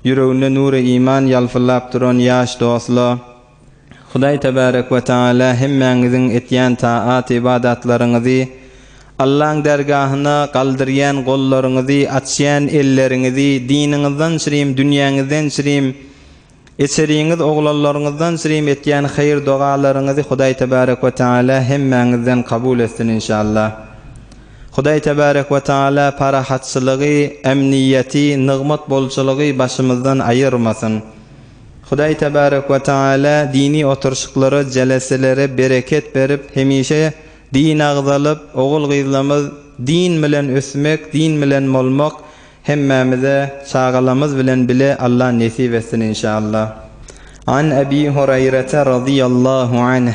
Ýüreginde nury iman ýalpyllap duran ýaş dostla, Hudaý Tebarek we Tagala hemmäňiziň etýän taat-ybadatlaryňyzy, Allaň dergahyna galdyrýan gollaryňyzy, açýan elleriňizi, diniňizden çirim, dünýäňizden çirim, içeriňiz, oglanlaryňyzdan çirim etýän haýyr-dogalaryňyzy Hudaý Tebarek we Tagala hemmäňizden kabul etsin inşallah. Hudaý Tebarek we Taala parahatçylygy, emniýeti, nygmat bolçulygy başymyzdan aýyrmasyn. Hudaý Tebarek we Taala dini oturyşyklara, jeleselere bereket berip, hemişe din agzalyp, ogul-gyzlarymyz din bilen ösmek, din bilen bolmak hemmämize çagalarymyz bilen bile Allah nesip etsin inşallah. An Ebi Hureýrete razyýallahu anh,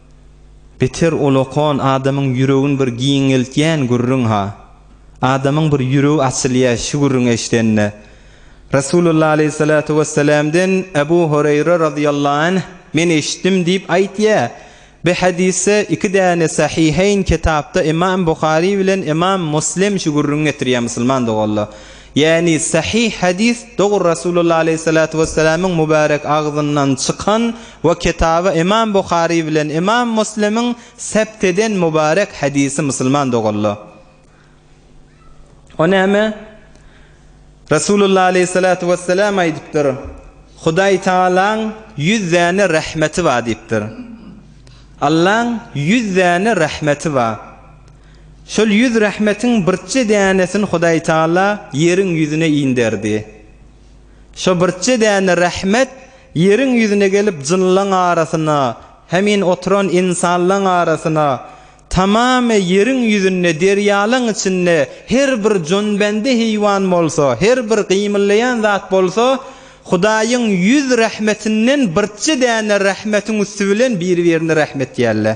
Beter ol okan adamyň ýüregin bir giňeltýän gürrüň-ha. Adamyň bir ýüregi açylýa şu gürrüňi eşdende. Resulullah aleýhissalatu wessalamden Ebu Hureýre razyýallahu anh men eşitdim diýip aýtýa. Bi hadisde iki däne Sahiheýn ketapda Imam Buhari bilen Imam Muslim şu gürrüňi getirýä musulman doganlar. Ýagny sahyh hadys dogry Rasulullah aleýhi salatu wessalamyň mubarek agzyndan çykan we kitaby Ymam Buhary bilen Ymam Muslimiň sept eden mubarek hadysy musulman doganlar. O näme? Rasulullah aleýhi salatu wessalam aýdypdyr, Hudaý Tagalaň ýüz däne rahmeti bar diýipdir. Allaň ýüz däne rahmeti bar. Şol ýüz rahmetiň birje dänesini Hudaý Taala ýeriň ýüzüne inderdi. Şo birje däne rahmet ýeriň ýüzüne gelip jynlaň arasyna, hemin oturan ynsanlaň arasyna, tamamy ýeriň ýüzünde, derýalaň içinde her bir jonbende heýwan bolsa, her bir gymyllaýan zat bolsa Hudaýyň ýüz rahmetinden birje däne rahmetiň üsti bilen bir-birine rahmetýärler.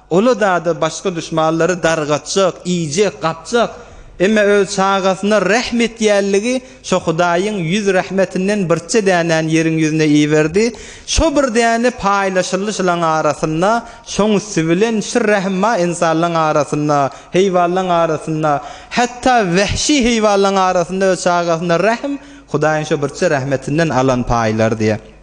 Oladada başga duşmanlary dargatjak, iýjek, gapjak, emme öz çagasyna rähm etýänligi şo Hudaýyň ýüz rähmetinden birçe dänäni ýeriň ýüzüne iberdi, şo bir däne paýlaşyldy şylaň arasynda, şoň üsti bilen şir rähm bar ynsanlaň arasynda, heýwanlaň arasynda, hatda wähşi heýwanlaň arasynda öz çagasyna rähm Hudaýyň şo birçe rähmetinden alan paýlar diýýär.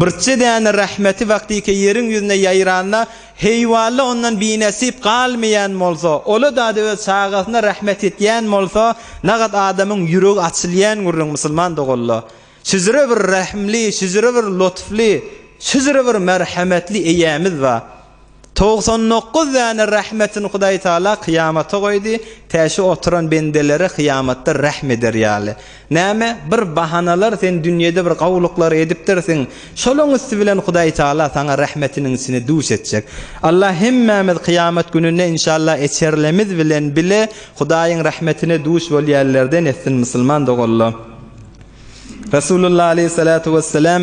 Birje däne rahmeti wagtyky ýeriň ýüzüne ýaýranda, heýwalla ondan binesip galmaýan bolsa, ola-da-da öz çagasyna rahmet etýän bolsa, nagat adamyň ýüregi açylýan gürrüň, musulman doganla. Şüjre bir rahimli, şüjre bir lutfly, şüjre bir merhemetli Eýämiz bar. Togsan dokuz däne rahmetini Hudaý Taala kyýamata goýdy, tä şu oturan bendeleri kyýamatda rahm eder ýaly. Näme, bir bahanalar sen dünýede bir gowulyklary edipdirsiň, şolaň üsti bilen Hudaý Taala saňa rahmetiniň içine duş etjek. Allah hemmämiz kyýamat gününde inşallah eçerlemiz bilen bile Hudaýyň rahmetine duş bolýanlerden etsin musulman doganlar. Resulullah aleyhissalatu vesselam.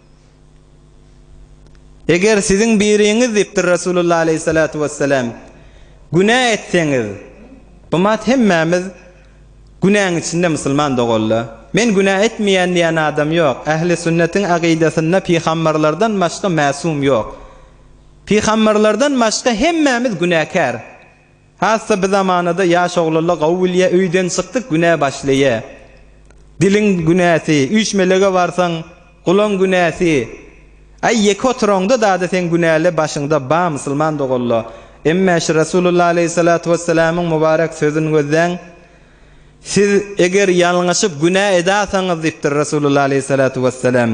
Eger siziň biriňiz, diýipdir Resulullah aleýhissalatu wessalam, günä etseňiz, Umat, hemmämiz günäň içinde musulman dogalla. Men günä etmeýän diýen adam ýok. Ähli sünnetiň akydasynda pygamberlerden başga mäsum ýok. Pygamberlerden başga hemmämiz günäkär. Hassa bi zamanada ýaş oglalla gawy bilýä öýden çykdyk günä başlaýa. Diliň günäsi, üýşmelege barsaň gulaň günäsi. Aý ýeke oturaňda dada seň günäle başyňda ba musulman dogalla. Emmä şu Rasulullah aleýhissalatu wessalamyň mubarek sözün gözläň. Siz eger ýalňyşyp günä edasaňyz diýipdir Resulullah aleýhissalatu wesselam,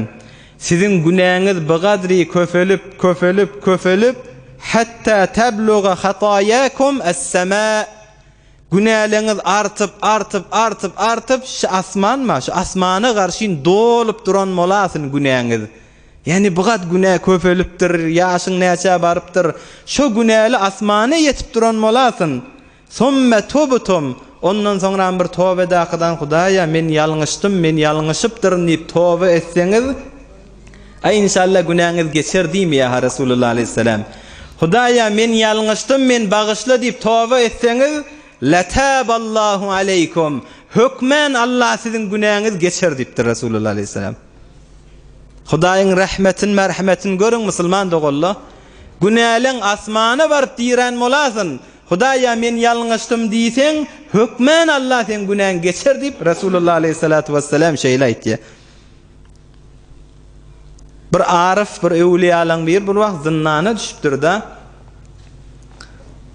siziň günäňiz bigadri köpelip, köpelip, köpelip, hatta tabluga hataýakum as-sama, günäleňiz artyp, artyp, artyp, artyp, şu asmanma, şu asmana garşyn dolup duran bolasyn günäňiz. Ýani bigad günä köpelipdir, ýaşyň näçä barypdyr, şo günäli asmana ýetip duran bolasyn. Sümme tubtum, ondan soňram bir toba edakydan Hudaýa men ýalňyşdym, men ýalňyşypdyryn diýip toba etseňiz, Aý inşalla günäňiz geçer diýme ýa ha Resulullah aleýhisselam. Hudaýa men ýalňyşdym, men bagyşla diýip toba etseňiz, Lataballahu aleýkum, hökmän Alla siziň günäňiz geçer diýipdir Resulullah aleýhisselam. Hudaýyň rahmetin merhametin görüň musulman doganla. Günäleň asmana baryp dirän bolasyn, Hudaýa men ýalňyşdym diýseň, hökman Alla seň günäňi geçer diýip, Resulullah aleýhissalatu wessalam şeýle aýtýar. Bir aryf, bir öwliýalaň biri bir wagt zyndana düşüpdir-de.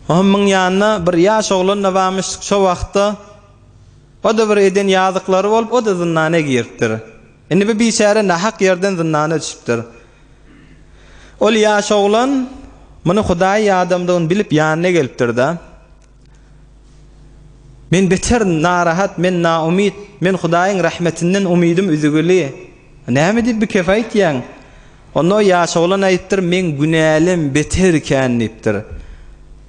Onuň ýanynda bir ýaş oglan-da barmyş, şo wagtda o-da bir eden ýazyklary bolup, o-da zyndana giripdir. Indi bu biçäre nahak ýerden zyndana düşüpdir. Ol ýaş oglan muny hudaýy adamdygyny bilip ýanyna gelipdir-de, Men beter narahat, men naumyt, men hudaýyň rahmetinden umydym üzügili. Näme diýip bikef aýtýaň? Onda o ýaş oglan aýdypdyr, Meň günälem beter ikän diýipdir.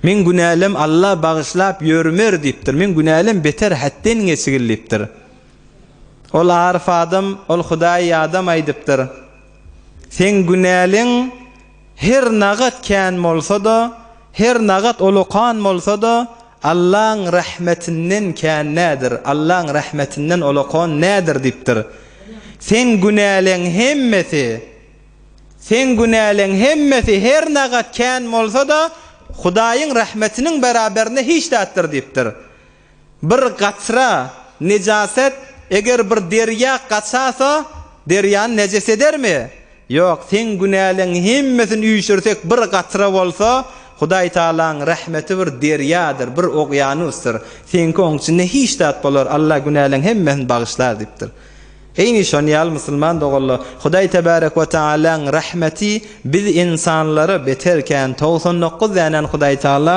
Meň günälem Alla bagyşlap ýörmer diýipdir. Meň günälem beter hätden geçigil diýipdir. Ol Arif adam, ol Hudaýy ýadam aýdypdyr. Seň günäliň her nagat kän bolsa-da, her nagat ulukan bolsa-da, Allaň rahmetinden kän nädir, Allaň rahmetinden ulukan nädir diýipdir. Seň günäliň hemmesi, seň günäliň hemmesi her nagat kän bolsa-da, Hudaýyň rahmetiniň beraberinde hiç zatdyr diýipdir. Bir gatra, nejaset, eger bir derýa gaçasa, derýany nejes edermi? Ýok, seň günäleň hemmesini üýşürsek bir gatra bolsa, Hudaý Tagalaň rehmeti bir derýadyr, bir ogýanusdyr, seňki oň içinde hiç zat bolar, Alla günäleň hemmesini bagyşlar diýipdir. Eýni şon ýaly musulman doganlar, Hudaý Tebarek we Tagalaň rehmeti biz insanlara beter kän, togsan dokuz dänäni Hudaý Tagala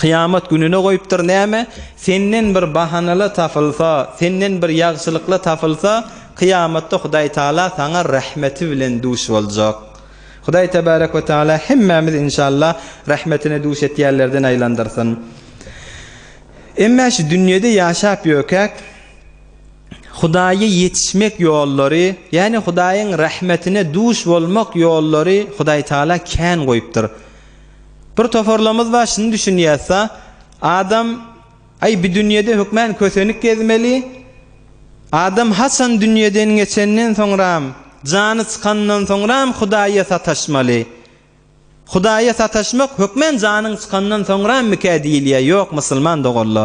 Kyýamat gününe goýupdyr näme? Senden bir bahanala tapylsa, senden bir ýagşylykla tapylsa, kyýamatda Hudaý Taala saňa rahmeti bilen duş boljak. Hudaý tebarek we taala hemmämizi inşallah rahmetine duş etýänlerden aýlandyrsyn. Emma şu dünýede ýaşap ýökäk Hudaýa ýetişmek ýollary, ýagny Hudaýyň rahmetine duş bolmak ýollary Hudaý Taala kän goýupdyr. Bir toparlamyz bar şuny düşünýäsda adam aý bi dünýede hökman kösenik gezmeli adam haçan dünýeden geçenden soňram jany çykandan soňram hudaýa sataşmaly hudaýa sataşmak hökman janyň çykandan soňramykä diýilýä ýok musulman doganla.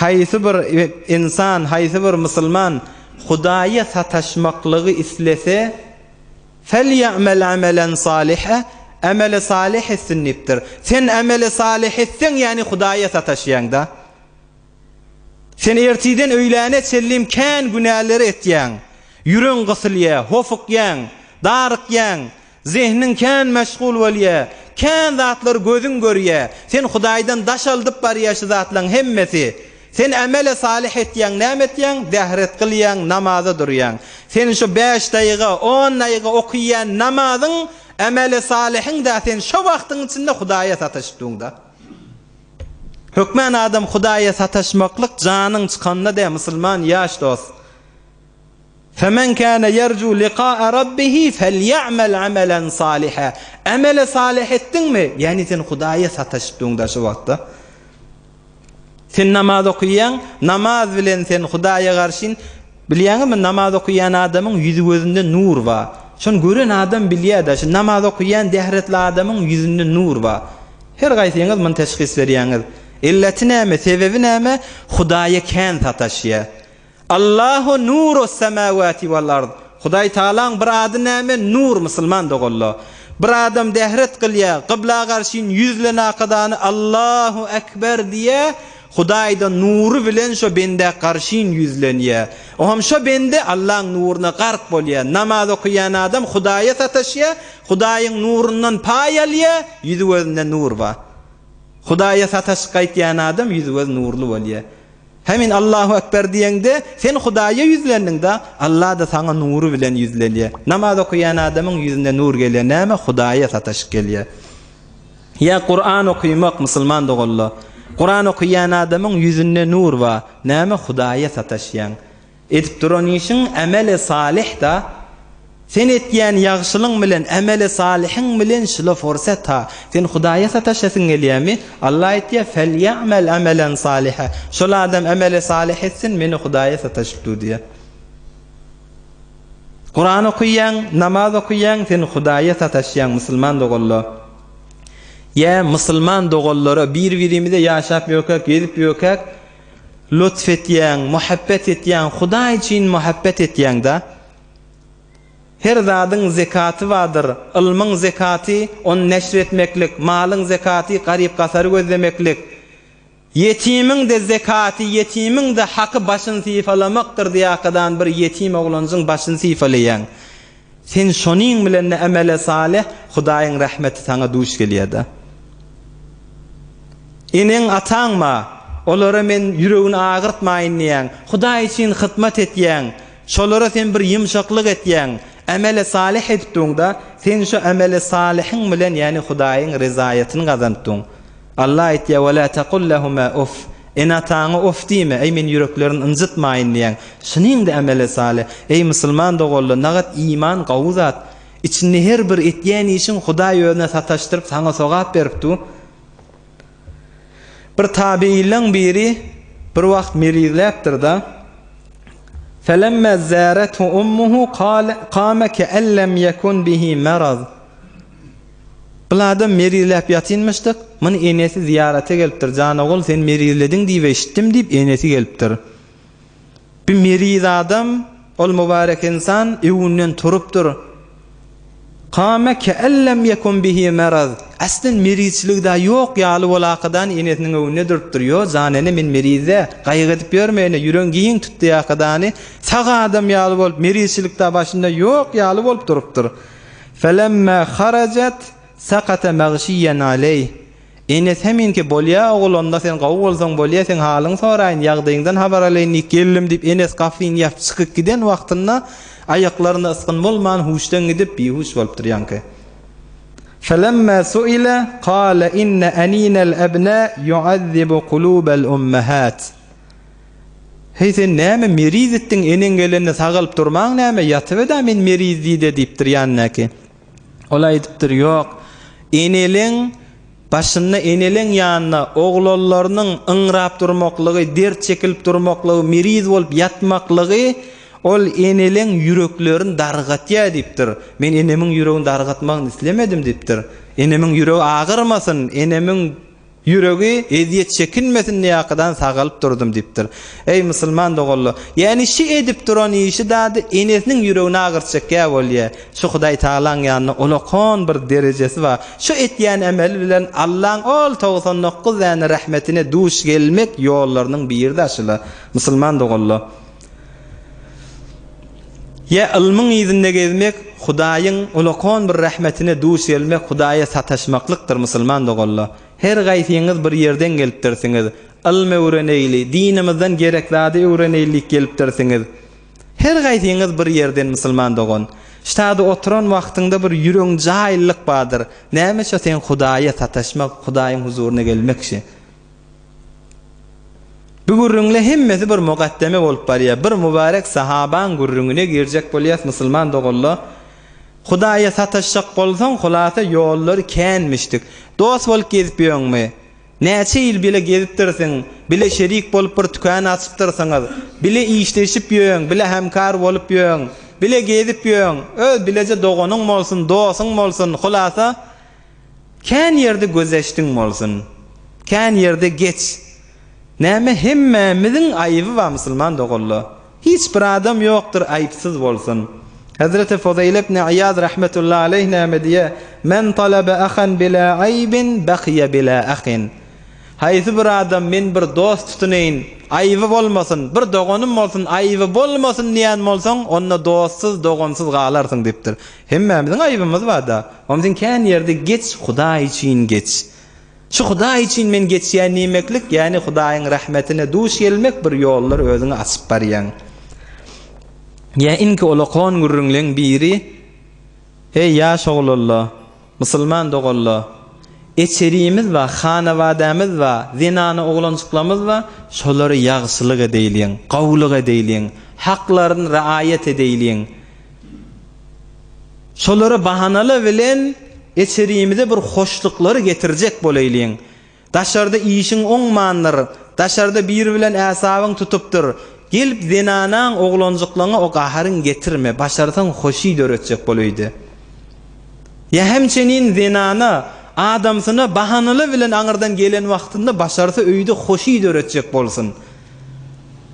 Haýsy bir ynsan, haýsy bir musulman Hudaýa sataşmaklygy islese, Felýe'mel amelen saliha, Emeli salyh etsin diýipdir. Sen emeli salyh etseň, ýagny Hudaýa sataşýaň-da. Sen ertirden öýläne çenli kän günäleri etýäň. Ýüregiň gysylýar, hofukýaň, darykýaň, Zehniň kän meşgul bolýa, kän zatlar gözüň görýä, sen Hudaýdan daş aldyp barýa şu zatlaň hemmesi. Sen ämele salyh etýäň, näme etýäň? Zähret gylýaň, namaza durýaň. Sen şu bäş daýga, on daýga okyýan namazyň, ämele salyhyň-da sen şo wagtyň içinde Hudaýa sataşypdyňda. Hökman adam Hudaýa sataşmaklyk janyň çykanda-da musulman ýaş dost. Femen kâne ýerjû likâe Rabbihi felýe'mel amelen sâlihe, Emeli salyh etdiňmi? Ýagny sen Hudaýa sataşypdygyňda şu wagtda. Sen namaz okaýaň, namaz bilen sen Hudaýa garşyn, bilýäňizmi namaz okaýan adamyň ýüzi gözünde nur bar. Şony gören adam bilýär-de, şu namaz okaýan dehretli adamyň ýüzünde nur bar. Her gaýsyňyz muny teşhis berýäňiz. Illeti näme, sebebi näme? Hudaýa kän sataşýar. Allahu nurus semawati wal ard, Hudaý Tagalaň bir ady näme, nur, musulman doganlar. Bir adam dehret gylýa, gybla garşyn ýüzle nakadany Allahu ekber diýä, Hudaýda nury bilen şo bende garşyn ýüzlenýä. Oham şo bende Allaň nuruna gark bolýa. Namaz okaýan adam Hudaýa sataşýa, Hudaýyň nurundan paý alýa, ýüzi gözünde nur bar. Hudaýa sataşyp gaýtýan adam ýüzi göz nurly bolýa. Hemin Allahu Ekber diýeňde, sen Hudaýa ýüzlendiň-de, Allah-da saňa nury bilen ýüzlenýär. Namaz okaýan adamyň ýüzüne nur gelýär. Näme? Hudaýa sataşyk gelýär. Ýa Kuran okymak, musulman doganlar. Kuran okaýan adamyň ýüzünde nur bar. Näme? Hudaýa sataşýaň. Edip duran işiň ämeli salyh-da. Sen etýän ýagşylyň bilen ämeli salyhyň bilen şula forsat-a. Sen Hudaýa sataşasyň gelýärmi? Alla aýtýar, Felýe'mel amelen salyha. Şol adam ämeli salyh etsin, meni Hudaýa sataşyp dur diýýär. Kuran okaýaň, namaz okaýaň, sen Hudaýa sataşýaň, musulman doganlar. Ýa, musulman doganlara, bir-birimize ýaşap ýökäk, gezip ýökäk, Lutf etýäň, muhabbet etýäň, Hudaý üçin muhabbet etýäň-dä. Her zadyň zekaty bardyr, ylmyň zekaty, ony neşir etmeklik, malyň zekaty, garyp-gasary gözlemeklik, ýetimiň-de zekaty, ýetimiň-de haky başyny sypalamakdyr, diýýärkadan bir ýetim oglanjyň başyny sypalaýaň. Sen şonuň bilen-de emele salyh, Hudaýyň rehmeti saňa duş gelýär-de. Eneň-ataň bar, olara men ýüregini agyrtmaýyn diýýäň, Hudaý üçin hyzmat etýäň, şolara sen bir ýumşaklyk etýäň, emele salyh edipdiň-de, sen şu emele salyhyň bilen, ýagny Hudaýyň ryzaýatyny gazanypdyň. Alla aýtýar, Ve la tekul lehuma uff, ene-ataňa of diýme, eý men ýüreklerini ynjytmaýyn diýen. Şunyňdy emele sale, eý musulman doganlar, nagat iman gawy zat. Içinde her bir etýän işiň Hudaý özüne sataşdyryp saňa sogap berip dur. Bir tabiileň biri bir wagt melizläpdir-da, Felemma zarethu ummuhu kale kame ke'en lem yekun bihi maraz. Bul adam merizläp ýatynmyşdyk, muny enesi zyýarata gelipdir, Janogul, sen merizlediň diýip eşitdim diýip, enesi gelipdir. Bu meriz adam, ol mübarek ynsan öwünden turupdyr. Kama ke'en lem ýekun bihi meraz, aslen merizçilig-dä ýok ýaly bolakadan enesiniň öwünde durupdyr, Ýo, jan ene, men meriz-dä, gaýgy edip ýörme ene, ýüregiň giň tutýakadany, sag adam ýaly bolup, merizçilik-dä başynda ýok ýaly bolup durupdyr. Felemma harajat sakata magşiyyan aleyh, Enes heminki bolýa ogul onda sen gowy bolsaň bolýa seň halyň soraýyn ýagdyňdan habar alaýyn diýip geldim diýip Enes gafyny ýapyp çykyp giden wagtynda aýaklarynda ysgyn bolman huşdan gidip bihuş bolupdyr ýaňky Felemma suila kala inne aninal abna yuazibu kulubal ummahat. Heý sen näme meriz etdiň eneň gelende sagalyp durmaň näme ýatybeda men meriz diýde diýipdir ýanyndaky. Ol aýdypdyr ýok eneleň başynda eneleň ýanynda oglanlarynyň yňrap durmaklygy dert çekilip durmaklygy meriz bolup ýatmaklygy ol eneleň ýüreklerini dargatýar diýipdir men enemiň ýüregini dargatmagyny islemedim diýipdir enemiň ýüregi agyrmasyn enemiň Ýüregi ezýet çekinmesin diýäkkadan sagalyp durdum diýipdir. Eý musulman doganlar, ýäni şi edip duran işi dady enesiniň ýüregini agyrtjak ýa bolýa. Şo Hudaý Tagalaň ýanynda ulakan bir derejesi bar. Şo etýän emeli bilen Allaň ol togsan dokuz däne rahmetine duş gelmek ýollarynyň biri-de şula, musulman doganlar. Ýa ylmyň yzynda gezmek, Hudaýyň ulakon bir rahmetine duş gelmek Hudaýa sataşmaklykdyr musulman doganlar. Her gaýsyňyz bir ýerden gelipdirsiňiz. Ylm öwreneýli, dinimizden gerek zady öwreneýli diýip gelipdirsiňiz. Her gaýsyňyz bir ýerden musulman dogan. Ştada oturan wagtyňda bir ýüregiň jaýlylyk bardyr. Näme şo seň Hudaýa sataşmak, Hudaýyň huzuryna gelmek şi. Bu gürrüňle hemmesi bir mugaddeme bolup barýar. Bir mübarek sahabaň gürrüňine girjek bolýas musulman doganla. Hudaýa sataşjak bolsaň hulasa ýollary känmişdik. Dost bolup gezip ýöňmi? Näçe ýyl bile gezipdirsiň, bile şerik bolup bir tükän açypdyrsyňyz. Bile işleşip ýöň, bile hemkar bolup ýöň. Bile gezip ýöň. Öz bileje doganyň bolsun, dosuň bolsun. Hulasa. Kän ýerde gözeşdiň bolsun. Kän ýerde geç. Näme hemmämiziň aýyby bar musulman doganla. Hiç bir adam ýokdyr aýypsyz bolsun. Hezreti Fuzeýl ibn Iýaz rahmetullahi aleýh näme diýýär, Men talaba ahan bila aýbin bakyýa bila ahin. Haýsy bir adam men bir dost tutuneýin, aýyby bolmasyn, bir doganym bolsun, aýyby bolmasyn diýen bolsaň, onda dostsuz, dogansyz galarsyň diýipdir. Hemmämiziň aýybymyz barda omzin kän ýerde geç hudaý üçin geç şu hudaý üçin men geçýän diýmeklik ýany hudaýyň rahmetine duş gelmek bir ýollar özüňi açyp barýaň ýa inki olakon gürrüňleň biri eý ýaş oglalla. Musulman doganlar! Eçerimiz bar, hanabadämiz bar, zenana oglanjyklarymyz bar, şolara ýagşylyk edeýliň, gowulyk edeýliň, haklaryny raýat edeýliň. Şolara bahanalar bilen eçerimize bir hoşluklary getirjek boleýliň. Daşarda işiň oňmandyr, daşarda biri bilen äsabyň tutupdyr, gelip zenanaň, oglanjyklaňa o gaharyň getirme, başarsaň hoşy döretjek bol öýde. Ýa hem çenin zenana, adamsyna bahanala bilen aňyrdan gelen wagtynda başarsa öýde hoşy döretjek bolsun.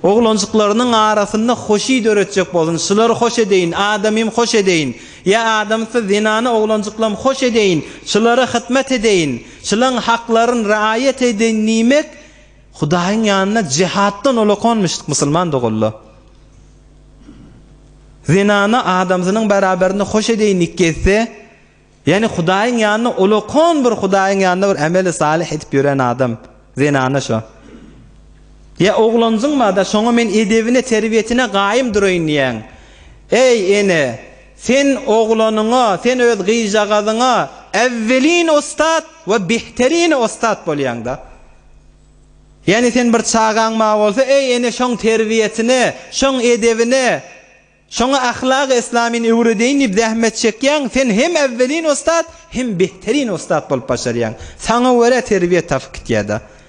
Oglanjyklarynyň arasynda hoşy döretjek bolsun, şulary hoş edeýin, adamym hoş edeýin, ýa adamsy zenana oglanjyklam hoş edeýin, şulara hytmat edeýin, Çylaň haklaryn raýat edeýin diýmek Hudaýyň ýanynda jehatdan olakonmyşdyk musulman doganlar. Zenana adamsynyň beraberinde hoş edeýin dik gezse, ýani Hudaýyň ýanynda olakon bir Hudaýyň ýanynda bir emeli salyh edip ýören adam zenana şo. Ýa oglanjyňmada şoňa men edebine terbiýetine gaýym duraýyn diýýäň. Eý ene, Sen oglanyňa, sen öz gyzjagazyňa äwwelin ussat we bihterine ussat bolýaň-da. Ýani sen bir çagaň ma bolsa, eý ene şoň terbiýesine, şoň edebine, şoňa ahlagy islamyny öwredeýin diýip zähmet çekýäň, sen hem äwwelin ussat, hem bihterine ussat bolup başarýaň. Saňa görä terbiýe tapyp gitýär-de.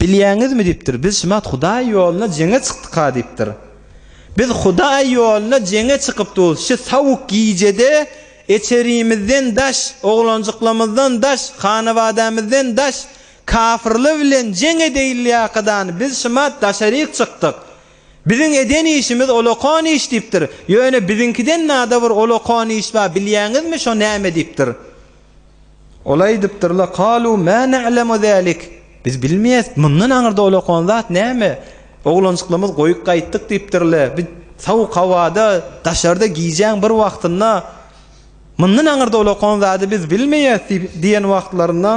Bilýäňizmi, diýipdir, biz şumat Hudaý ýoluna jeňe çykdyk-a, diýipdir. Biz Hudaý ýoluna jeňe çykypdygys, şu sowuk gijede eçerimizden daş, oglanjyklamyzdan daş, hanabadämizden daş kafyrlar bilen jeň edeýilýakadany biz şumat daşaryk çykdyk. Biziň eden işimiz olakan iş, diýipdir. Ýöne biziňkiden-da bir olakan iş bar, bilýäňizmi, şo näme? diýipdir. Ol aýdypdyr-la, Kalu ma na'lemu zalik, Biz bilmeýäs, mundan aňyrda ol okan zat näme? Oglanjyklymyz goýup gaýtdyk diýipdir-le, biz sowuk howada, daşarda gijäň bir wagtynda, Mundan aňyrda ol okan zady biz bilmeýäs diýen wagtlarynda,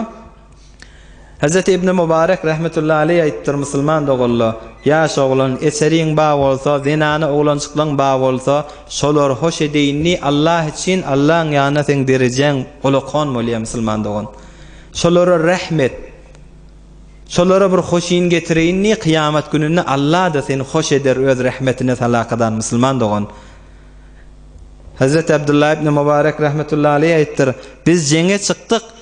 Hezreti Ibni Mubarek rahmetullahi aleýh aýypdyr, Musulman doganla, ýaş oglan, eseriň ba bolsa, zenana oglanjyklaň ba bolsa, şolary hoş edeýin diý, Allah üçin, Allaň ýanynda seň derejäň olakan bolýar, musulman dogan. Şolara rehm et. Şolara bir hoşyn getireýin diý, kyýamat gününde Allah-da seni hoş eder, öz rehmetine salakadan, musulman dogan. Hezreti Abdullah ibni Mubarek rahmetullahi aleýh aýypdyr, Biz jeňe çykdyk,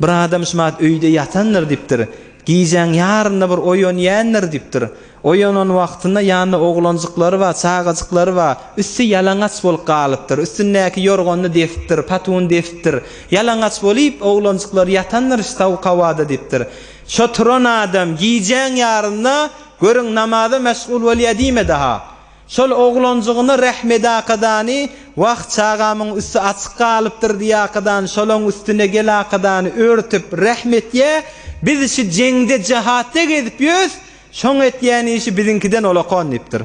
Bir adam şumat öýde ýatandyr diýipdir. Gijäň ýarynda bir oýanýändir diýipdir. Oýanan wagtynda ýanynda oglanjyklary bar, çagajyklary bar. Üsti ýalaňaç bolup galypdyr. Üstündäki ýorganyny desipdir, patuny desipdir. Ýalaňaç bolyp, oglanjyklary ýatandyr sowuk howada diýipdir. Şo turan adam gijäň ýarynda görüň namaza meşgul bolýa diýme daha. Şol oglanjygyna Rahmedakadany Wah, çagamyň üsti açyk galypdyr diýäkadan, şolaň üstüne gelakadany örtüp, rehm etýä, Biz şu jeňde, jehatda gezip ýös, şoň etýän işi biziňkiden olakon diýipdir.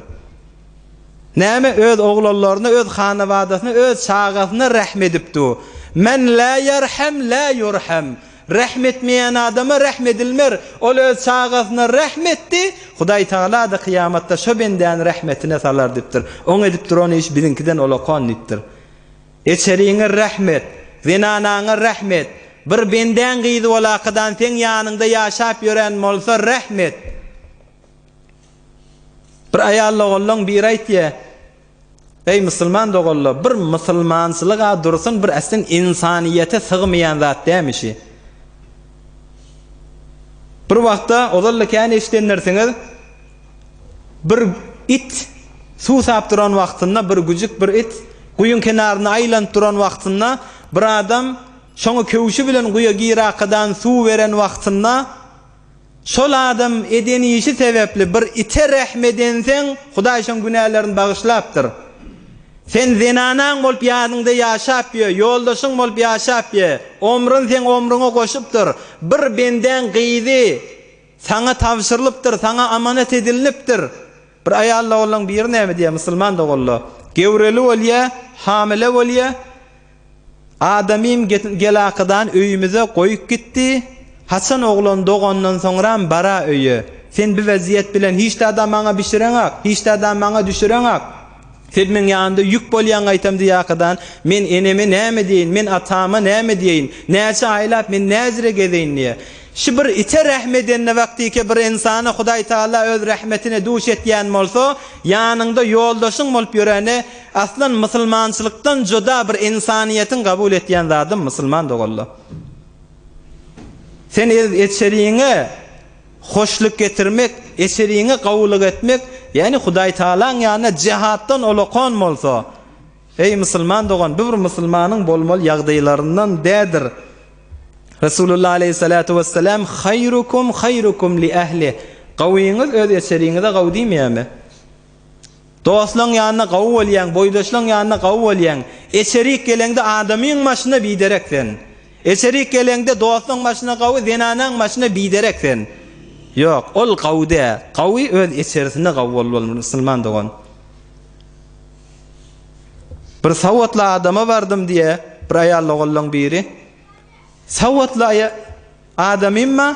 Näme, öz oglanlaryna, öz hanabadasyna, öz çagasyna rehm edip du. Men lä ýerhem, lä ýurhem. Rähm etmeýän adama rähm edilmer. Ol öz çagasyna rähm etdi, Hudaý Tagala-da kyýamatda şo bendäni rähmetine salar diýipdir. Oň edip duran işi biziňkiden olakan diýipdir. Eçeriňe rähm et, zenanaňa rähm et. Bir bendäň gyzy bolakadan seň ýanyňda ýaşap ýören bolsa rähm et. Bir aýal ogullaň biri aýtýa. Eý musulman doganlar bir musulmançylyk a dursun bir äsdin insaniýete sygmaýan zat dämi şi. Bir wagtda ozalda kän eşidendirsiňiz bir it suw sap duran wagtynda bir güjük bir it guýyň kenarynda aýlanyp duran wagtynda bir adam şoňa köwşi bilen guýa girakadan suw beren wagtynda Şol adam eden işi sebäpli bir ite rehm edenseň, Hudaý şoň günälerini bagyşlapdyr. Sen zenanaň bolup ýadyňda ýaşap ýö, ýoldaşyň bolup ýaşap ýe, omrun seň omruňa goşupdyr. Bir bendäň gyzy saňa tabşyrylypdyr, saňa amanat edilnipdir. Bir aýal doganlaň biri näme diýýär, musulman doganlar, Gewreli bolýa, hamile bolýa, adamym gelakydan öýümize goýup gitdi, haçan oglan dogandan soňram bara öýe, sen bi wezýet bilen hiçzada maňa bişireňak, hiçzada maňa düşüreňak, sen meň ýanymda ýük bolýaň gaýtam diýakydan, men eneme näme diýeýin, men atama näme diýeýin, näçe aýlap men näzire gezeýin diýýär. Şu bir ite rähm edende wagtyke bir ynsana Hudaý Taala öz rähmetine duş etýän bolsa, ýanyňda ýoldaşyň bolup ýöreni aslan musulmançylykdan juda bir ynsanyýetiň kabul etýän zady musulman dogalla. Sen öz eçeriňe hoşluk getirmek, eçeriňe gowulyk etmek ýani Hudaý Taalaň ýanyna jihatdan olakan bolsa, Eý musulman dogan bu bir musulmanyň bolmaly ýagdaýlaryndan dädir. Resulullah aleýhissalatu wessalam haýrukum haýrukum li ähli gawyňyz öz eçeriňize gawy diýmeýärmi? Dostlaň ýanyna gawy bolýaň, boýdaşlaň ýanyna gawy bolýaň. Eçerik geleňde adamyň başyna biderek sen. Eçerik geleňde dostlaň başyna gawy zenanaň başyna biderek sen. Ýok ol gawy däl. Gawy öz eçerisine gawy bolmaly musulman dogan. Bir sowatly adama bardym diýe, bir aýal ogullaň biri. Sowatly aýa adamymma,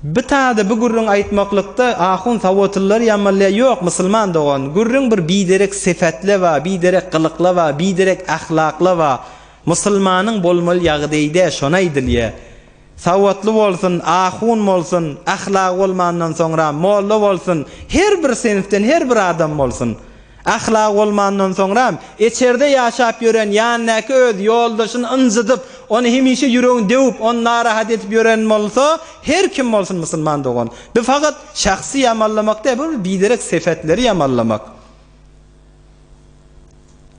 bi tada bi gürrüň aýtmaklykda ahun sowatlylar ýamalýa ýok musulman dogan, gürrüň bir biderek sefatle ba, biderek gylykla ba, biderek ahlakla ba, musulmanyň bolmaly ýagdaýdä şony aýdylýa. Sawatly bolsun, ahun bolsun, ahlagy bolmandan soňra molla bolsun, her bir sinfden her bir adam bolsun. Ahlagy bolmandan soňram, içerde ýaşap ýören ýanyndaky öz ýoldaşyny ynjydyp, ony hemişe ýüregini döwüp, ony narahat edip ýören bolsa, her kim bolsun musulman dogan, bu fakat şahsy ýamanlamak däl, bu bir biderek sepetleri ýamanlamak.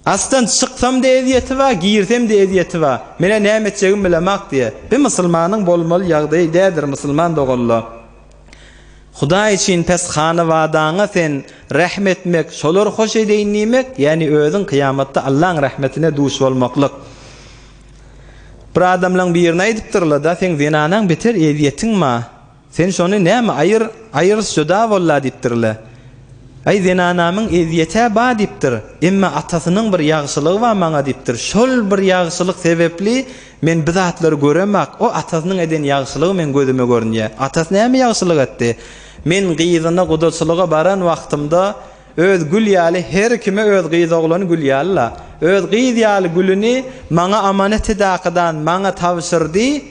Asdan çyksam-da ezýeti bar, girsem-de ezýeti bar. Men-ä näme etjegimi bilemok, diýýär. Bi musulmanyň bolmaly ýagdaýy däldir, musulman doganla. Hudaý üçin pes hanawadaňa sen rähm etmek, şolar hoş edeýin diýmek, ýagny özüň kyýamatda Allaň rahmetine duş bolmaklyk. Bir adamlaň birine aýdypdyrlar-da, seň zenanaň beter ezýetiň bar. Sen şony näme aýyr, aýyr söda bolla diýipdir-le. Aý, zenanamyň ezýet-ä ba diýipdir, emme atasynyň bir ýagşylygy ba maňa diýipdir. Şol bir ýagşylyk sebepli men bi zatlary göremok. O atasynyň eden ýagşylygy meň gözüme görünýä. Atasy näme ýagşylyk etdi? Men gyzyna gudaçylyga baran wagtymda öz gül ýaly her kime öz gyz oglany gül ýaly-la. Öz gyz ýaly gülüni maňa amanet-i dakydan maňa tabşyrdy.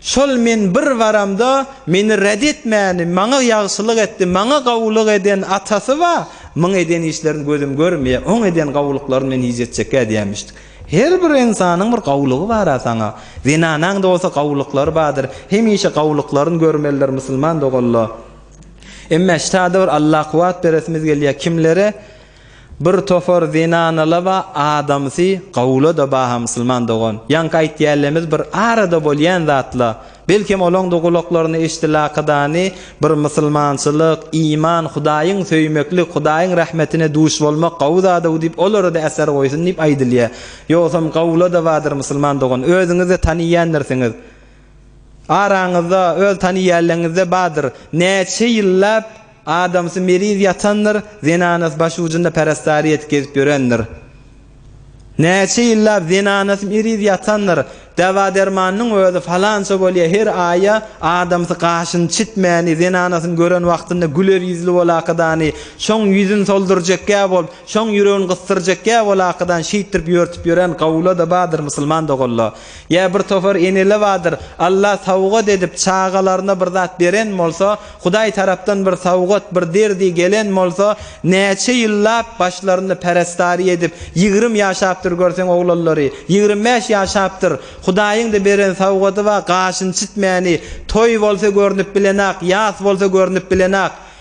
Şol men bir baramda meni red etmäni, maňa ýagşylyk etdi, maňa gowulyk eden atasy ba, myň eden işlerini gözüm görmeýä, oň eden gowulyklaryny men yz etjekkä diýämişdi. Her bir ynsanyň bir gowulygy bar-a saňa. Zenanaň-da bolsa gowulyklary bardyr. Hemişe gowulyklaryny görmelidir musulman doganla. Emmä ştada bir Allakuwwat beresimiz gelýä, kimlere? Bir topar zenanalaba adamsy gawlada baha musulman dogan. Ýaňky aýtýälemz bir arada bolýan zatla. Belkem olaňda gulaklaryna eşdi lakydany bir musulmançylyk, iman, hudaýyň söýmeklik, hudaýyň rahmetine duş bolmak gawy zadaw diýip olarada äser goýsun diýip aýdylýa. Ýogsam gawlada badyr musulman dogan. Özüňizde taniýändirsiňiz. Araňyzda öz taniýäleňizde badyr. Näçe ýyllap Adamsy meriz ýatandyr, zenanasy başujunda perestariýet gezip ýörendir. Näçe ýyllap zenanasy meriz ýatandyr, dawa-dermanynyň özi falança bolýa, her aýa adamsy gaşyny çitmäni, zenanasyny gören wagtynda güler ýüzli bolakadany, şoň ýüzün soldurjekgä bolup, şoň ýüregini gysdyrjekgä bolakadan şeýtdirip ýörtüp ýören gawula-da bardyr musulman doganlar. Ýa bir topar eneler bardyr, Alla sowgat edip çagalaryna bir zat beren bolsa, Hudaý tarapdan bir sowgat, bir derdi gelen bolsa, näçe ýyllap başlarynda perestari edip, ýigrimi ýaşapdyr görseň oglanlary, ýigrimi bäş ýaşapdyr. Hudaýyň-da beren sowgady bar, gaşyny çitmäni, toý bolsa görnüp bilenak, ýas bolsa görnüp bilenak.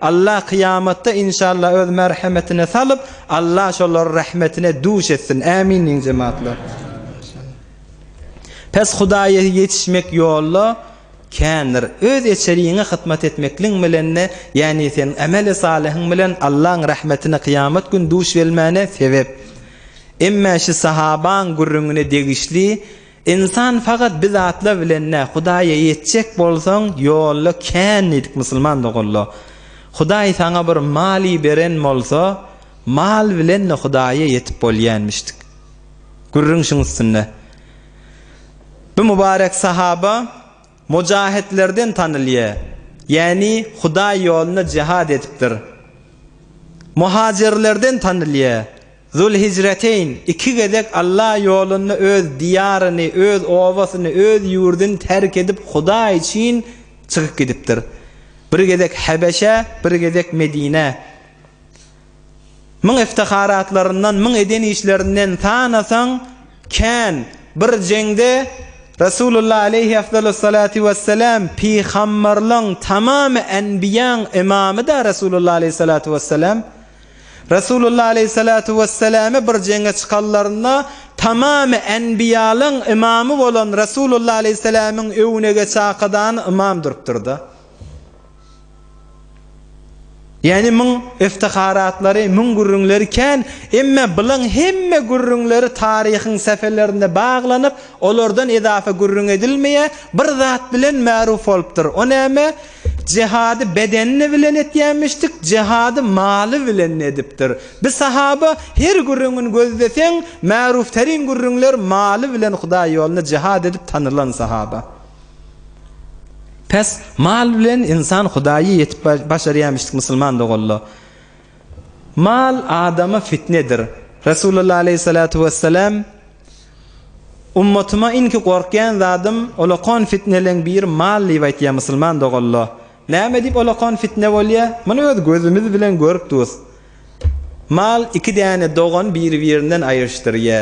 Allah kyýamatda inşallah öz merhemetine salyp Allah şolary rahmetine duş etsin ämin diýiň jematlar. Pes Hudaýa ýetişmek ýolda kändir. Öz eçeriňe hyzmat etmekliň bilende ýani sen ameli salyhyň bilen Allaň rahmetine kyýamat gün duş gelmäne sebep. Emme şi sahabaň gürrüňine degişli Ynsan fakat bi zatlar bilen dä Hudaýa ýetjek bolsaň ýolda kän diýdik musulman doganlar. Hudaý saňa bir maly beren bolsa mal bilen de Hudaýa ýetip bolýanmişdik. Gürrüň şuň üstünde. Bu mubarek sahaba mojahitlerden tanylýa ýani Hudaý ýolunda jihad edipdir. Muhajirlerden tanylýa Zul-Hijreteýn iki gezek Alla ýolunda öz diýaryny, öz obasyny, öz ýurduny terk edip Hudaý üçin çykyp gidipdir. Bir gezek Hebeşä, bir gezek Medinä. Müň iftiharatlaryndan, müň eden işlerinden sanasaň kän. Bir jeňde Resulullah aleýhi efdalus salatu wessalam pygamberligiň tamamy enbiýaň ymamy-da Resulullah aleýhi salatu wessalam. Resulullah aleýhissalatu wesselame bir jeňe çykanlarynda tamamy enbiýalaň ymamy bolan Resulullah aleýhissalamyň öwüne geçakydan ymam durupdyrda. Ýani muň iftiharaatlary, muň gürrüňleri kän, emme bulaň hemme gürrüňleri taryhyň säfelerinde baglanyp, olardan edafa gürrüň edilmeýär, bir zat bilen märuf bolupdyr, o näme? Jehady bedenini bilen etýämişdik, jehady maly bilen edipdir. Bi sahaba her gürrüňini gözleseň, märufterin gürrüňler maly bilen Hudaý ýolunda jehad edip tanylan sahaba. Pes, mal bilen ynsan Hudaýy ýetip başarýamişdik musulman doganla. Mal adama fitnedir. Resulullah aleyhissalatu vesselam, Ummatyma inki gorkýan zadym olakon fitneleň biri mal diýip aýtýar musulman dogalla. Näme diýip olakon fitne bolýa? Muny öz gözümiz bilen görüp durus. Mal iki däne dogan biri-birinden aýryşdyrýa.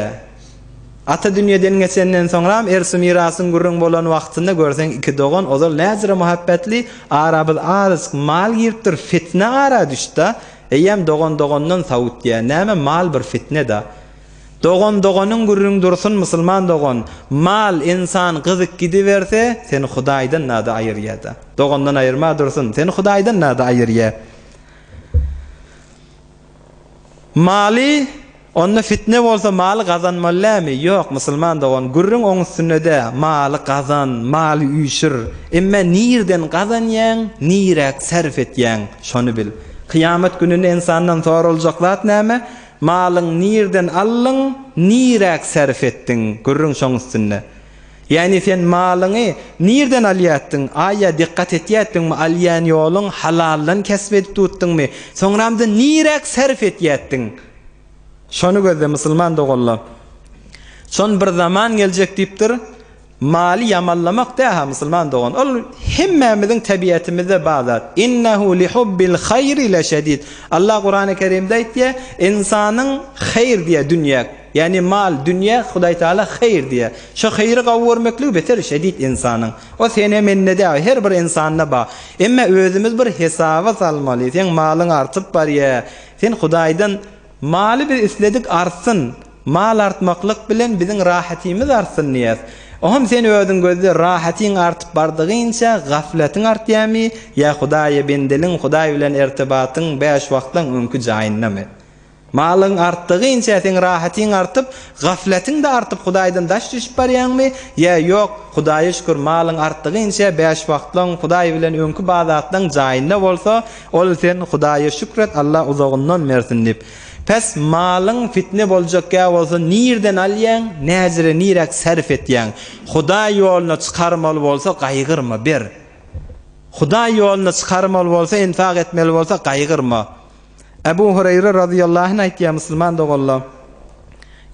Ata dünýeden geçenden soňram ersi mirasyň gürrüň bolan wagtynda görseň iki dogan ozal näzire muhabbetli arabyz azyjyk mal giripdir fitne ara düşdä eýýäm dogan dogandan sawutýa näme mal bir fitneda. Dogan doganyň gürrüň dursun musulman dogan mal ensan gyzyk gidiberse seni hudaýdan nada aýyrýada dogandan aýyrma dursun seni hudaýdan nada aýyrýa maly onda fitne bolsa maly gazanmaly lämi ýok musulman dogan gürrüň oň üstünde dä maly gazan maly üýşür emme nirden gazanýaň niräk sarf etýäň şony bil kyýamat gününe ensandan soraljak zat näme Malyň nirden aldyň, niräk sarp etdiň, gürrüň şoň üstünde. Ýagny sen malyňy nirden alýatdyň, aýa dikgat etýätdiňmi, alýan ýoluň halaldan kesp edip tutdyňmy, soňramda niräk sarp etýätdiň? Şony gözle musulman doganlar. Şon bir zaman geljek diýipdir, Maly ýamanlamak däha musulman dogan ol hemmämiziň tebiýetimizde bar zat innehu lihubbil haýri leşedid Allah Kurany kerimde aýtýa ynsanyň haýr diýä dünýä ýagny mal dünýä Hudaý Taala haýr diýä şo haýry gawy görmekligi beter şedid ynsanyň o sene mende däl her bir ynsanda bar emma özümiz bir hesaba salmaly seň malyň artyp barýa sen Hudaýdan Maly biz isledik artsyn, mal artmaklyk bilen biziň rahatymyz artsyn diýýäs. Oňam sen özüň gözle, rahatyň artyp bardygyňça gaflatyň artýarmy ýa Hudaýa bendeligiň, Hudaý bilen irtibatyň bäş wagtlaň öňki jaýyndamy? Malyň artdygyňça seň rahatyň artyp, gaflatyň-da artyp Hudaýdan daş düşüp barýaňmy ýa ýok, Hudaýa şükür, malyň artdygyňça bäş wagtlaň Hudaý bilen öňki badatlaň jaýynda bolsa, Ol sen Hudaýa şükür et Allah uzagyndan bersin diýip. Pes malyň fitne boljak kä bolsa nirden alýaň näjire niräk sarf etýäň. Hudaý ýoluna çykarmaly bolsa gaýgyrma ber. Hudaý ýoluna çykarmaly bolsa enfak etmeli bolsa gaýgyrma. Ebu Hureýre razyýallahu anh aýtýar musulman doganlar.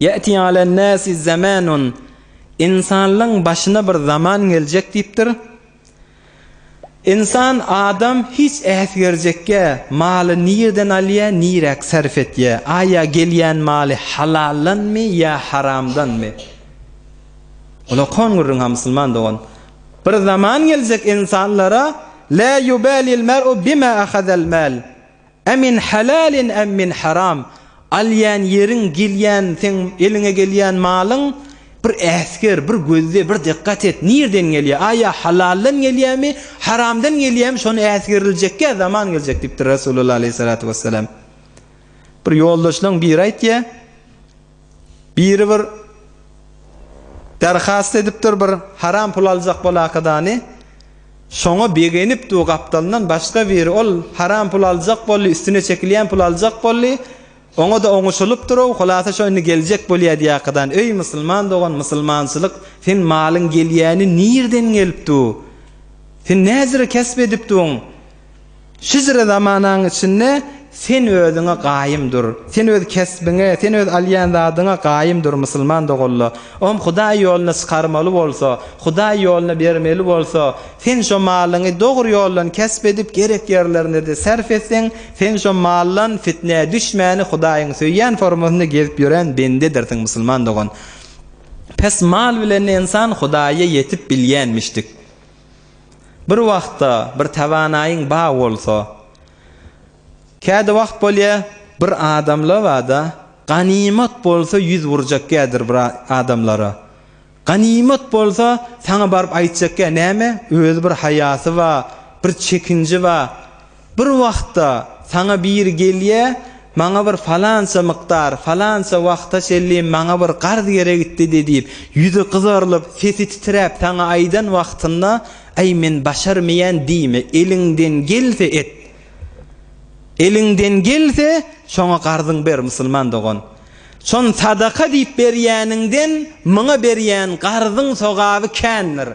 Ýati alan nasi zamanun insanlyň başyna bir zaman geljek diýipdir. Ynsan adam hiç äsgerjekge maly nirden alýa niräk sarf etýä aýa gelýän maly halaldanmy ýa haramdanmy ola kon gürrüň ha musulman dogan bir zaman geljek ynsanlara la yubalil mer'u bima ahazal mal A min halalin am min haram, alýan ýeriň, gelýän seň eliňe gelýän malyň, bir äsger, bir gözle, bir dykgat et, nirden gelýär, a ýa halaldan gelýärmi, haramdan gelýärmi, şony äsgeriljekä zaman geljek diýipdir Resulullah aleýhissalatu wessalam. Bir ýoldaşlaň biri aýtýar. Biri bir Darhast edipdir bir haram pul aljak bolakadany şoňa begenip du gapdalyndan başga biri ol haram pul aljak boldy üstüne çekilýän pul aljak boldy oňada oňuşylypdyrow hulasa şo indi geljek bolýa diýakadany öý musulman dogan musulmançylyk sen malyň gelýäni nirden gelip du sen näzire kesp edip duň Hijri zamanaň içinde sen özüňe gaýym dur. Sen öz kesbiňe, sen öz alýan zadyňa gaýym dur, musulman doganla. Oňa Hudaý ýoluna çykarmaly bolsa, Hudaý ýoluna bermeli bolsa, sen şo malyňy dogry ýoldan kesp edip, gerek ýerlerinde-de sarp etseň, sen şo maldan fitnä düşmäni Hudaýyň söýýän formasynda gezip ýören bendedirsiň, musulman dogan. Pes mal bilen ensan Hudaýa ýetip bilýänmişdik. Bir wagtda bir tawanaýyň ba bolsa, kädi wagt bolýa, bir adamla bada, ganymat bolsa ýüz burjak kädir bir adamlara. Ganymat bolsa saňa baryp aýtjak kä näme, özi bir haýasy ba, bir çekinji ba. Bir wagtda saňa biri gelýä, Maňa bir falança mukdar, falança wagta çenli maňa bir garz geregitdi-de diýip, ýüzi gyzarylyp, sesi titräp saňa aýdan wagtynda, Aý, men başarmaýan diýme, eliňden gelse et. Eliňden gelse, şoňa garzyňy ber, musulman dogan. Şony sadaka diýip berýäniňden, muňa berýän garzyň sogaby kändir.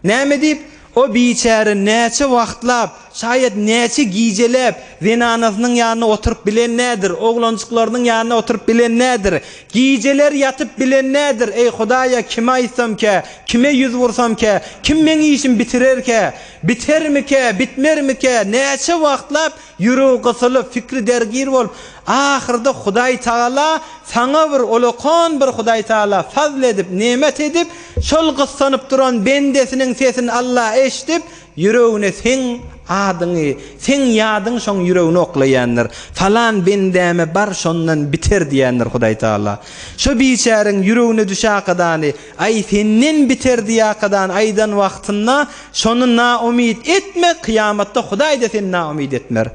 Näme diýip, o biçäre näçe wagtlap, şaýat näçe gijeläp zenanasynyň ýanynda oturyp bilen nädir, oglanjyklarynyň ýanynda oturyp bilen nädir, gijeler ýatyp bilen nädir, eý, Hudaýa kime aýtsamkä, kime ýüz bursamkä, kim meň işimi bitirerkä, bitermikä, bitmermikä, näçe wagtlap Ýüregi gysylyp, pikri dergir bolup, ahyrda Hudaý Tagala saňa bir ulakan bir Hudaý Tagala fazl edip, nemat edip, şol gyssanyp duran bendesiniň sesini Alla eşidip, ýüregine seň adyňy, seň ýadyňy şoň ýüregine oklaýandyr. Falan bendäme bar şondan biter diýendir Hudaý Tagala. Şo biçäreň ýüregine düşäkadany, Aý, senden biterdi ýakadan aýdan wagtynda şony naumyt etme, kyýamatda Hudaý-da seni naumyt etmer.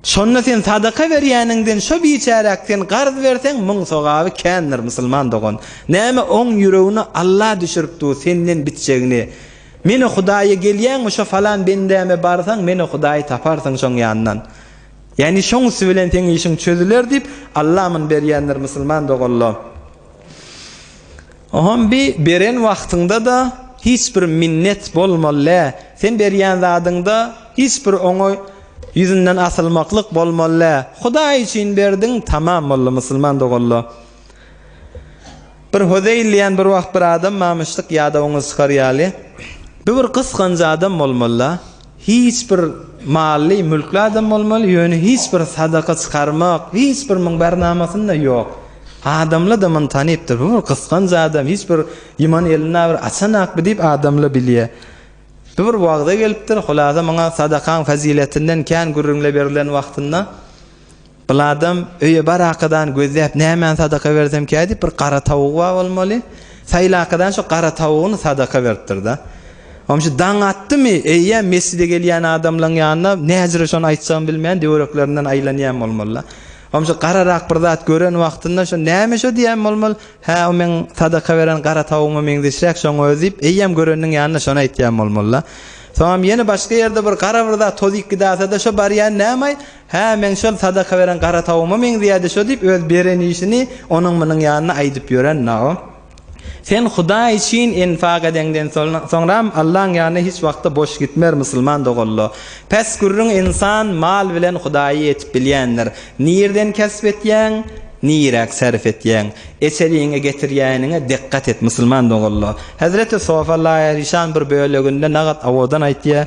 Şonda sen sadaka berýäniňden şo biçäräk sen garz berseň, muň sogaby kändir, musulman dogan. Näme oň ýüregine Alla düşürip dur senden bitjegini. Menä Hudaýa gelýäňmi, şo falan bendäme barsaň, menä Hudaýy taparsyň şoň ýandan. Ýani şoň üsti bilen seň işiň çözüler diýip Alla aman berýändir musulman dogalla. Ohom bi beren wagtyňda da hiç bir minnet bolmallä sen berýän zadyňda hiç bir oňa ýüzünden asylmaklyk bolmallä Hudaý üçin berdiň tamam boldy musulman dogalla. Bir Hozeýl diýen bir wagt bir adam mamyşlyk ýadawyňyzy çykarýaly. Bu bir gysganç adam bolmallä. Hiç bir mally mülkli adam bolmaly ýöne hiç bir sadaka çykarmak hiç bir muň bernamasynda ýok adamla da muny tanypdyr bu bir gysganç adam hiç bir ýyman elini bir açanak bi diýip adamla bilýä bu bir wagza gelipdir hulasa muňa sadakaň faziletinden kän gürrüňle berilen wagtynda Bul adam öýe barakadan gözläp nämäni sadaka bersemkä diýip bir gara tawugy bar bolmaly. Saýlakadan şo gara tawugyny sadaka beripdirda. Onuň üçin daň atdymy, eýýäm mesjide gelýän adamlaryň ýanyna näjüre şony aýtjagyny bilmän döwreklerinden aýlanýan bolmalyda. Onuň üçin gararak bir zat gören wagtynda şo näme şo diýen bolmaly. Hä o meň sadaka beren gara tawugyma meňzeşräk şoň özi diýip eýýäm göreniniň ýanyna şony aýtýan bolmalyda. Soňam ýene başga ýerde bir gara bir zat toz ikidasada şo barýan nämaý Hä, meň şol sadaka beren gara tawugyma meňzeýärdi şo diýip, öz beren işini onuň-munuň ýanyna aýdyp ýören Naum. Sen Hudaý üçin enfak edeňden soňram Allaň ýanyna hiç wagtda boş gitmer, musulman dogalla. Pes gürrüň Ynsan mal bilen Hudaýy ýetip bilýändir. Nirden kesp etýäň, niräk sarp etýäň? Eçeliňe getirýäniňe dikgat et, musulman dogalla. Hezreti Sofa Laýeryşan bir böleginde Nagat Awodan aýtýar.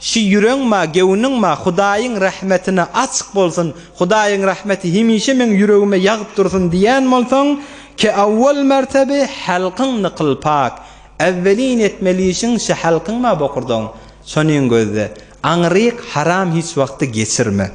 Şi ýüreň ma gewniň ma Hudaýyň rahmetine açyk bolsun Hudaýyň rahmeti hemişe meň ýüregime ýagyp dursun diýän bolsaň ke awwal mertebi halkyň nykyl pak awwelin etmeli işiň şi halkyň ma bokurdagyň şonin gözle aňryk haram hiç wagty geçirme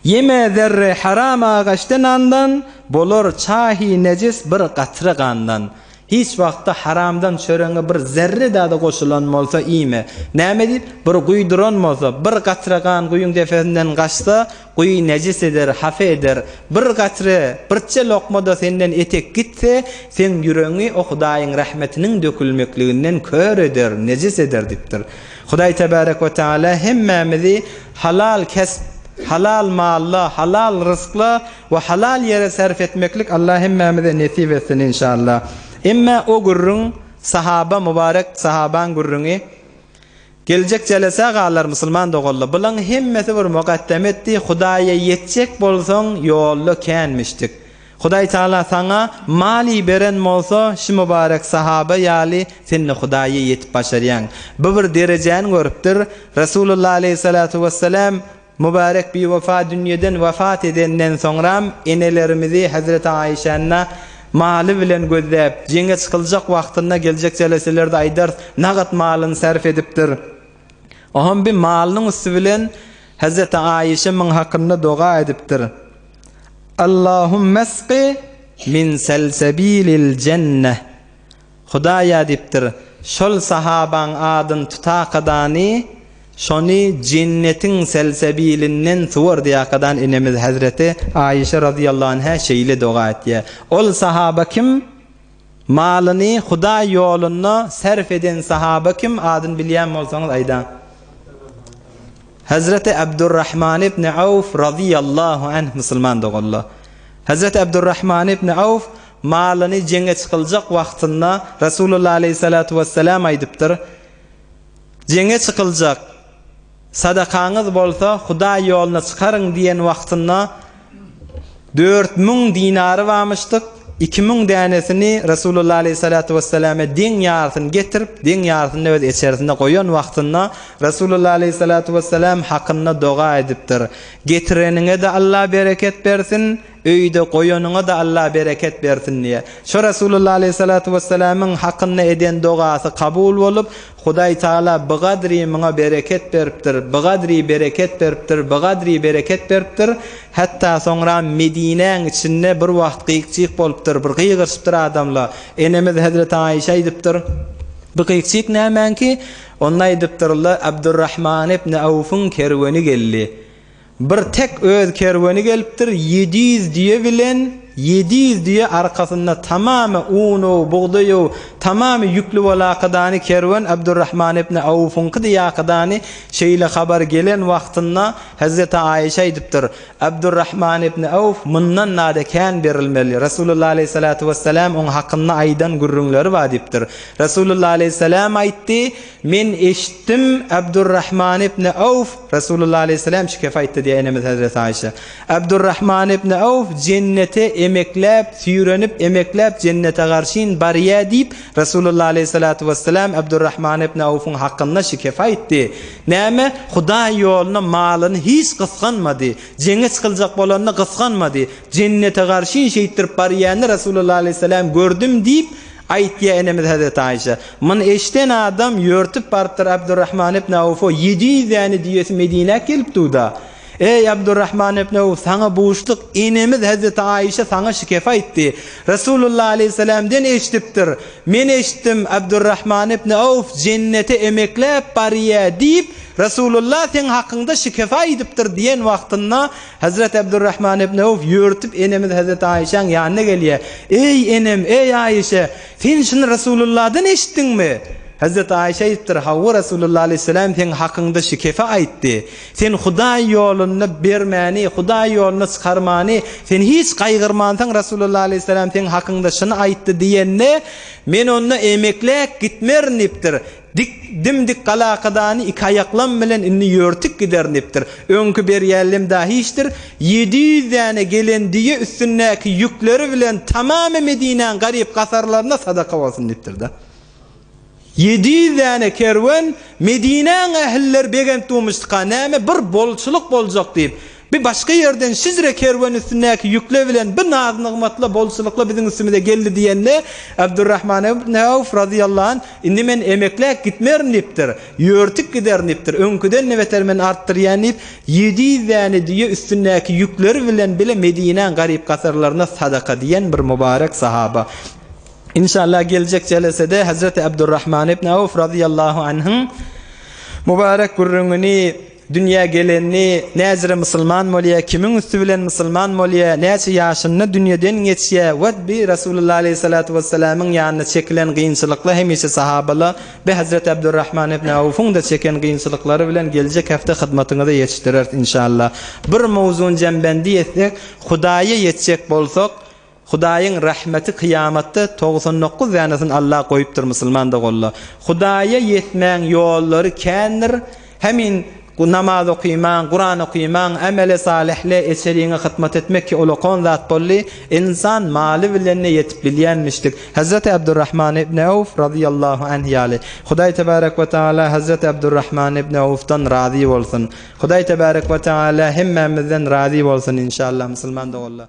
Ýeme zerre haram agaçda nandan, Bolar çahy nejis bir gatra gandan. Hiç wagtda haramdan çöreňe bir zerre dady goşulan bolsa iýme. Näme diýip, bir guýy duran bolsa, bir gatra gan guýyň depesinden gaçsa, guýy nejis eder, hapa eder. Bir gatra, birçe lokma-da senden etek gitse, seň ýüregiňi o Hudaýyň rahmetiniň dökülmekliginden kör eder, nejis eder diýipdir. Hudaý Tebärek we Teala hemmämizi halal kesp, halal malla, halal ryzkla we halal ýere sarp etmeklik Allah hemmämize nesip etsin inşallah. Emma o gürrüň sahaba mubarek sahabaň gürrüňi geljek jelesä galar musulman doganlar. Bulaň hemmesi bir mugaddem etdi, Hudaýa ýetjek bolsaň ýolda känmişdik. Hudaý Taala saňa Mali beren bolsa şu Mubarek Sahaba ýaly sende Hudaýa ýetip başarýaň. Bu bir derejäni görüpdir. Resulullah Aleýhisalatu Wessalam Mubarek Biwefa dünýeden wefat edenden soňram enelerimizi Hazreti Aişäni Maly bilen gözläp, jeňe çykyljak wagtynda geljek jeleselerde aýdarys, nagat malyny sarf edipdir. Oham bi malynyň üsti bilen Hezreti Aişe min hakynda doga edipdir. Allahumesqi min selsabilil jenneh. Hudaýa diýipdir, şol sahabaň adyn tutakadany, şony jennetiň selsabilinden suwar diýakadan enemiz Hezreti Aişe razyýallahu anha şeýle doga etýär. Ol sahaba kim? Malyny Hudaý ýolunda sarp eden sahaba kim adyny bilýän bolsaňyz aýdaň. Hazreti Abdurrahman ibn Awf razyýallahu anh musulman doganlar. Hazreti Abdurrahman ibn Awf malyny jeňe çykyljak wagtynda Rasulullah aleyhissalatu wessalam aýdypdyr, Jeňe çykyljak. Sadakaňyz bolsa Hudaý ýoluna çykaryň diýen wagtynda dört müň dinary bamyşdyk, iki müň dänesini Resulullah aleýhissalatu wesselame deň ýarysyny getirip, deň ýarysyny-da öz eçerisinde goýan wagtynda Resulullah aleýhissalatu wesselam hakynda doga edipdir, Getireniňe-de Allah bereket bersin, Öýde goýanyňa-da Allah bereket bersin diýýär. Şu Resulullah aleýhissalatu wessalamyň hakynda eden dogasy kabul bolup, Hudaý Tagala bigadri muňa bereket beripdir, bigadri bereket beripdir, bigadri bereket beripdir. Hatda soňra Medinäň içinde bir wagt gyk-jyk bolupdyr, bir gygyryşypdyr adamla. Enemiz hezreti Aişa aýdypdyr, Bu gyk-jyk nämäňki? Onda aýdypdyr, Abdurrahman ibn Awfyň kerweni geldi. Bir tek öz kerweni gelipdir, ýedi ýüz düýe bilen, ýedi ýüz düýe arkasynda tamamy uny, bugdaýy, tamamy ýükli bolakydany kerwen Abdurrahman ibn Awfyňky diýakydany şeýle habar gelen wagtynda Hezreti Aişa aýdypdyr, Abdurrahman ibn Awf mundan nada kän berilmeli, Resulullah aleyhissalatu wessalam oň hakynda aýdan gürrüňleri bar diýipdir. Resulullah aleyhissalam aýtdy, Men eşitdim, Abdurrahman ibni Awf, Resulullah aleýhissalam şu gepi aýtdy diýýär enemiz Hezreti Aýşa. Abdurrahman ibni Awf jennete emekläp, süýrenip, emekläp jennete garşyn barýar diýip, Resulullah aleýhissalatu wessalam Abdurrahman ibni Awfyň hakynda şu gepi aýtdy. Näme? Hudaý ýoluna malyny hiç gysganmady. Jeňe çykyljak bolanda gysganmady. Jennete garşyn şeýtdirip barýany Resulullah aleýhissalam gördüm diýip, aýtýar enemiz Hezreti Aýşa. Muny eşden adam ýörtüp barypdyr Abdurrahman ibn Awfa ýedi ýüz däne düýesi Medinä gelip duda, Eý, Abdurrahman ibn Awf, saňa buşluk, enemiz Hezreti Aýşa saňa şikef aýtdy. Resulullah aleýhissalamden eşdipdir. Men eşitdim, Abdurrahman ibn Awf jennete emekläp barýa diýip, Resulullah seň hakyňda şikef aýdypdyr diýen wagtynda, Hezreti Abdurrahman ibn Awf ýörtüp enemiz Hezreti Aýşaň ýanyna gelýä, Eý, enem, eý, Aýşe! Sen şuny Resulullahdan eşitdiňmi? Hezreti Aişe aýdypdyr, Hawa, Resulullah alaýhyssalam seň hakyňda şu kepi aýtdy. Sen Hudaý ýolunda bermäni, Hudaý ýoluna çykarmany, sen hiç gaýgyrmansyň, Resulullah alaýhyssalam seň hakyňda şuny aýtdy diýende, men onda emekläp gitmerin diýipdir. Dik, dim-dik galakadany iki aýaklam bilen indi ýörtüp giderndipdir. Öňki berýällem dagy hiçdir. Ýedi ýüz däne gelen düýe üstündäki ýükleri bilen tamamy Medinäň garyp gasarlaryna sadaka bolsun diýipdir-de. Ýedi ýüz däne kerwen Medinäň ählileri begent-dumuşdyka, näme, bir bolçulyk boljak diýip, Bir başga ýerden Hijre kerweni üstündäki ýükle bilen bir naz-nygmatla, bolçulykla biziň üstümize geldi diýende, Abdurrahman ibn Awf razyýallahu anh, Indi men emekläp gitmerin diýipdir. Ýörtüp giderin diýipdir. Öňküden-de beter men artdyrýan diýip, ýedi ýüz däne düýe üstündäki ýükleri bilen bile Medinäň garyp-gasarlaryna sadaka diýen bir mubarek sahaba. Inşallah geljek jelesede Hazreti Abdurrahman ibn Awf razyýallahu anhyň mubarek gürrüňini Dünýä geleni näcre musulman bolýa, kimiň üsti bilen musulman bolýa, näçe ýaşynda dünýeden geçýä we bi Resulullah aleýhissalatu wessalamyň ýanyna çekilen gynçylykla hemişe sahabala bi Hazreti Abdurrahman ibn Awfyňda çeken gynçylyklary bilen geljek hefte hyzmatyňyza ýetişdireris inşallah. Bir mowzuny jembendi etsek, Hudaýa ýetjek bolsak, Hudaýyň rahmeti kyýamatda togsan dokuz dänesini Allah goýupdyr musulman doganla Hudaýa ýetmäň ýollary kändir hemin namaz okymaň Kuran okymaň amele salihle eçeriňe hytmat etmek ki ol okan zat bolly ynsan maly bilende ýetip bilýänmişdik Hazreti Abdurrahman ibn Awf razyýallahu anh ýaly Hudaý tebarek we taala Hazreti Abdurrahman ibn Awfdan razy bolsun Hudaý tebarek we taala hemmämizden razy bolsun inşallah musulman doganla.